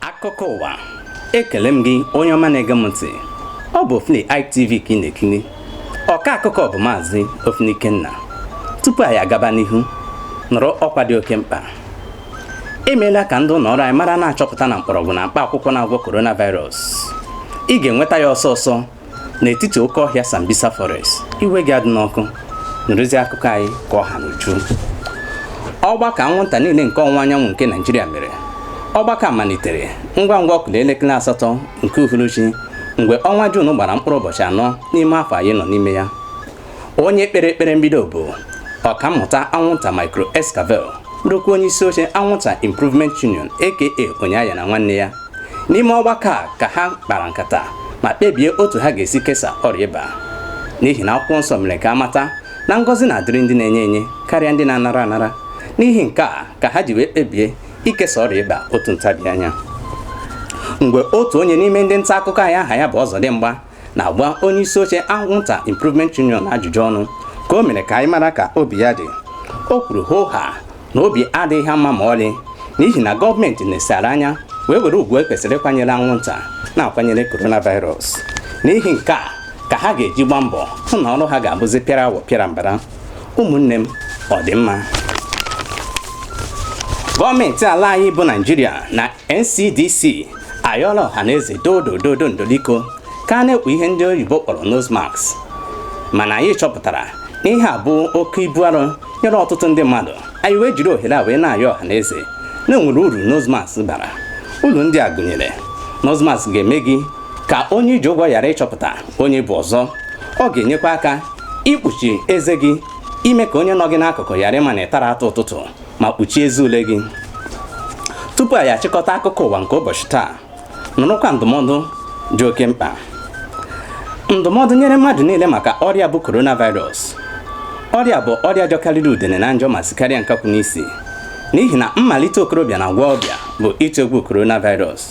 akụkọ ụwa ekele m gị onye ọma na-ege m ntị ọ bụ Ofini ITV ka ị na-ekiri ọka akụkọ bụ maazị Ofini Ikenna tupu anyị agaba n'ihu nụrụ ọkwa dị oke mkpa emeela ka ndị ụlọ ọrụ anyị mara na achọpụtana mkpọrọgwụ na mkpa akwụkwọ na-agwọ coronavirus ị ga-enweta ya ọsọ ọsọ n'etiti oke ọhịa Sambisa Forest iwe gị adịna ọkụ nụrụzi akụkọ anyị ka ọ ha n'uju ọgbakọ anwụnta niile nke ọwụwa anyanwụ nke Naijiria mere ọgbakọ malitere ngwa ngwa ọ kụla elekere asatọ nke uhuruchi mgbe ọnwa Juun gbara mkpụrụ ụbọchị anọ n'ime afọ anyị nọ n'ime ya onye kpere ekpere mbido bụ ọkammụta anwụnta micro escavel bụrụkwa onye isi oche anwụnta improvement union aka onye aghana nwanne ya n'ime ọgbakọ a ka ha kpara nkata ma kpebie otu ha ga-esi kesa ọrịa ịba n'ihi na akwụkwọ nsọ mere ka a mata na ngọzi na-adịrị ndị na-enye enye karịa ndị na-anara anara n'ihi nke a ka ha ji wee kpebie ikesa ọrịa ịba otu ntabi anya mgbe otu onye n'ime ndị nta akụkọ anyị aha ya bụ Ọzọdịmgba na-agba onye isi oche anwụnta Improvement Union ajụjụ ọnụ ka o mere ka anyị mara ka obi ya dị o kwuru hoo haa na obi adịghị ha mma ma ọlị n'ihi na gọọmenti nesara anya wee were ugwu e kwesịrị ịkwanyere anwụnta na-akwanyere coronavirus n'ihi nke a ka ha ga-eji gbaa mbọ hụ na ọrụ ha ga-abụzi pịara awọ pịara mbara ụmụnne m ọ dị mma gọọmenti ala anyị bụ naijiria na ncdc ayọọla ọha na eze dodo dodo ndoliko ka a na-ekpu ihe ndị oyibo kpọrọ nose mask mana anyị chọpụtara na ihe a bụ oke ibu arọ nyere ọtụtụ ndị mmadụ anyị wee jiri ohere a wee na-ayọ ọha na eze na e nwere uru nose mask bara uru ndị a gụnyere nose mask ga-eme gị ka onye i ji ụgwọ ghara ịchọpụta onye ị bụ ọzọ ọ ga-enyekwa aka ikpuchi eze gị ime ka onye nọ gị n'akụkụ ghara ịma na ị tara atụ ụtụtụ ma kpuchie eze ule gị tupu anyị achịkọta akụkọ ụwa nke ụbọchị taa nụrụkwa ndụmọdụ dị oke mkpa ndụmọdụ nyere mmadụ niile maka ọrịa bụ coronavirus ọrịa a bụ ọrịa jọkarịrị udene na njọ ma sikarịa nkakwụ n'isi n'ihi na mmalite okorobịa na agbọghọbịa bụ ịtụ egwu coronavirus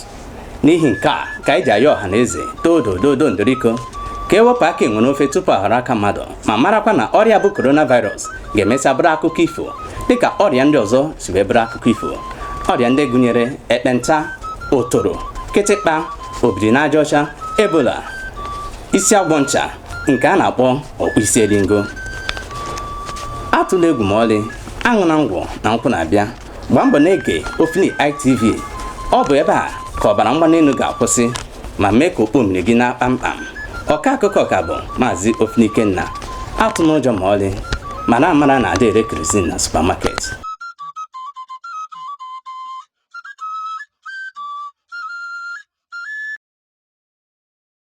n'ihi nke a ka anyị ji ayọ ọha na eze dodo dodo ndoriko ka e wepụ aka enwe n'ofe tupu ọ ghọrọ aka mmadụ ma marakwa na ọrịa bụ coronavirus ga-emesịa bụrụ akụkọ ifo dịka ọrịa ndị ọzọ si wee bụrụ akụkọ ifo ọrịa ndị gụnyere ekpenta otoro kịtịkpa obiri n'aja ọcha ebola isi agwọ ncha nke a na-akpọ ọkpụ isi elingo atụla egwu ma ọlị aṅụna ngwọ na nkwụ na-abịa gbaa mbọ na-ege Ofini ITV ọ bụ ebe a ka ọbara mgbali elu ga-akwụsị ma mee ka okpo mmiri gị naa kpamkpam ọka akụkọ ka bụ maazị Ofini Ikenna atụna ụjọ ma ọlị mana amara na adị ere kerozin na supamaket